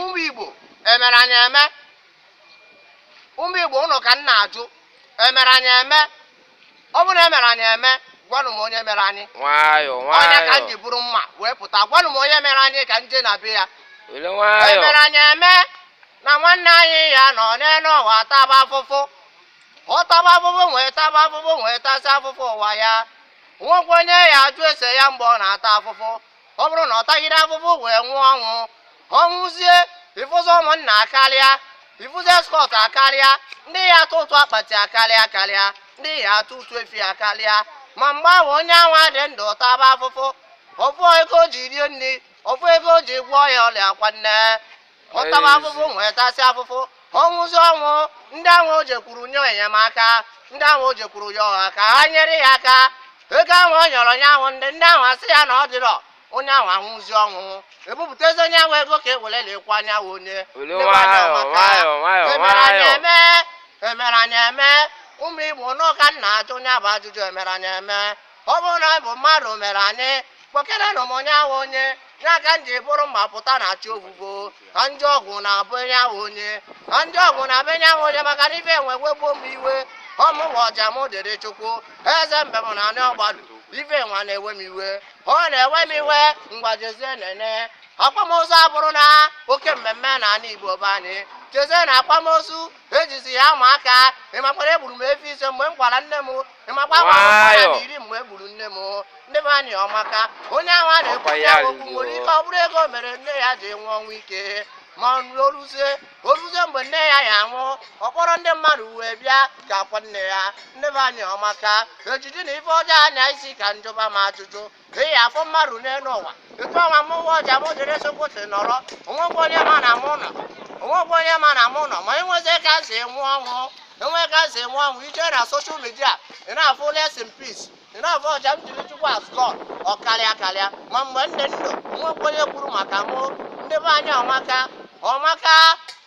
ụmụ Igbo emere anyị eme ụmụ Igbo ụnụ ka m na-ajụ emere anyị eme ọ bụrụ na emere anyị eme gwanụ m onye mere anyị nwayọọ onye ka m jee buru mma wee pụta gwanụ m onye mere anyị ka m jee na be ya emere anyị eme na nwanne anyị ya nọ n'elu ụwa taba afụfụ ọ taba afụfụ wee taba afụfụ wee tasịa afụfụ ụwa ya nwekwa onye ya ajụ ese ya mgbe ọ na-ata afụfụ ọ bụrụ na ọ tagide afụfụ wee nwụọ ọnwụ ọ nwụzie ị fụzi ụmụnna akarịa ị fụzi escort akarịa ndị ya atụ ụtụ akpati akarịa akarịa ndị ya atụ ụtụ efi akarịa ma mgbe ahụ onye anwa dị ndụ taba afụfụ ofu ego o ji rie nri ofu ego o ji gwọọ ya ọrịa kwanne ọ taba afụfụ wee tasịa afụfụ ọ nwụzie ọnwụ ndị ahụ o jekwuru yọọ enyemaka ndị ahụ o jekwuru yọọ ha ka ha nyere ya aka ego ahụ ọ yọrọ onye ahụ ndị ndị ahụ asị ya na ọ dịrọ onye ahụ anwụzi ọnwụ ebupụtazi onye ahụ ego ka e were likwaa onye ahụ onye emere anyị eme emere anyị eme ụmụ Igbo ụnụ ka m na-ajụ nya bụ ajụjụ emere anyị eme ọ bụrụ na ọ bụ mmadụ mere anyị kpọkerenụ m onye ahụ onye ka m jee buru mma pụta na chi ọbụbọ ka m jee ọgụ na be onye ahụ onye ka m jee ọgụ na be onye ahụ onye maka na ife nwa ewegbuo m iwe ọ mụwa ọja m dịrị Chukwu eze mbem na anị Ọgbaru ife nwa na-ewe m iwe ọ na-ewe m iwe ngwa jezie nene akwamozu abụrụna oke mmemme na anị Igbo be anyị jezie nene akwamozu ejizi ya ama aka ị makwa na egburu m efi ise mgbe m kwara nne m Ị makwa na iri mgbe e gburu nne m o. ndị be anyị ọ maka onye ahụ a na-ekwu ya okwu nwere ike ọ bụrụ ego mere nne ya ji nwụọ ọnwụ ike ma na o ruzie o ruzie mgbe nne ya ya anwụ ọ kpọrọ ndị mmadụ wee bịa ka a kwaa nne ya ndị be anyị ọ maka ejizina ife ọjọọ anya isi ka m jụba m ajụjụ ị ya afụ mmadụ n'elu ụwa etu anwa mụwa ọja m dịrị Chukwu si nọrọ o nwekwa onye ma na mụ nọ o nwekwa onye ma na mụ nọ ma e nwezie ka m si nwụọ ọnwụ e nwee ka m si nwụọ ọnwụ ị jee na social media ị na-afụ rest in peace ị na-afụ ọja m dịrị Chukwu has gone ọ karịa karịa ma mgbe m dị ndụ o nwekwa onye kwuru maka mụ ndị be anyị ọ maka ọ maka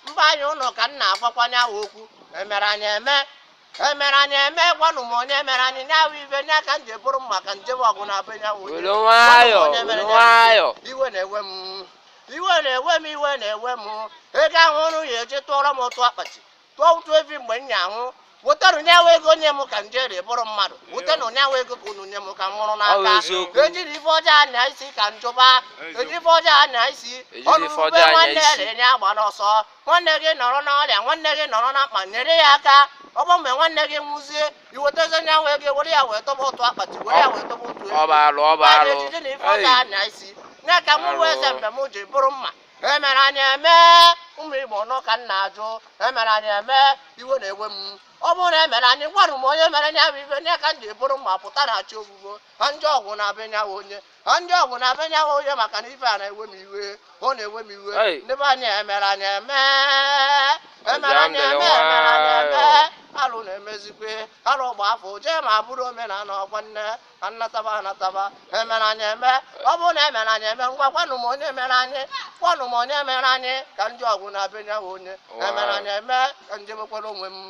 mba anyị ụnụ ka m na-agwakwa nya bụ okwu emere anyị eme emere anyị eme gwanụ m onye mere anyị nya bụ ife nya ka m jee buru mma ka m jee ọgụ na be onye ahụ were nwayọ were nwayọ iwe na-ewe m iwe na-ewe m iwe na-ewe m ego ahụ ụnụ ya eji tụọrọ m ụtụ akpati tụọ ụtụ evi mgbe m ya anwụ wetanụ nya bụ ego nye m ka m jiri bụrụ mmadụ wetanụ nya bụ ego ka unu nye m ka m nwụrụ n'aka ejiri ife ọjọọ anya isi ka m jụba ejiri ife ọjọọ anya isi ọ nụ ube nwanne nya agbana ọsọ nwanne gị nọrọ n'ọrịa nwanne gị nọrọ na mkpa nyere ya aka ọ bụ mgbe nwanne gị nwụzie iwetazi onye ahụ ego were ya wee tụba ụtụ akpati were ya wee tụba ụtụ ejiji na ife ọ ga-anya isi nye ka m wee eze mgbe m ji buru mma emere anyị eme ụmụ igbo nọ ka m na-ajụ emere anyị eme iwe na-ewe m ọ bụrụ na emere anyị gwanụ m onye mere nya bụ ife nye ka m jee buru mma pụta na chi efogo ka m jee ọgụ na be onye ahụ onye m jee ọgụ na be onye ahụ onye maka na ife a na-ewe m iwe ọ na-ewe m iwe ndị be anyị emere anyị eme emere anyị eme alụ na-emezikwe alụ gba afọ jee ma bụrụ omenala ngwanụ ka m nataba anataba emere anyị eme ọ bụrụ na emere anyị eme ngwa gwanụ m onye mere anyị gwanụ m onye mere anyị ka m jee ọgụ na be onye ahụ onye emere anyị eme ka m jebekwara onwe m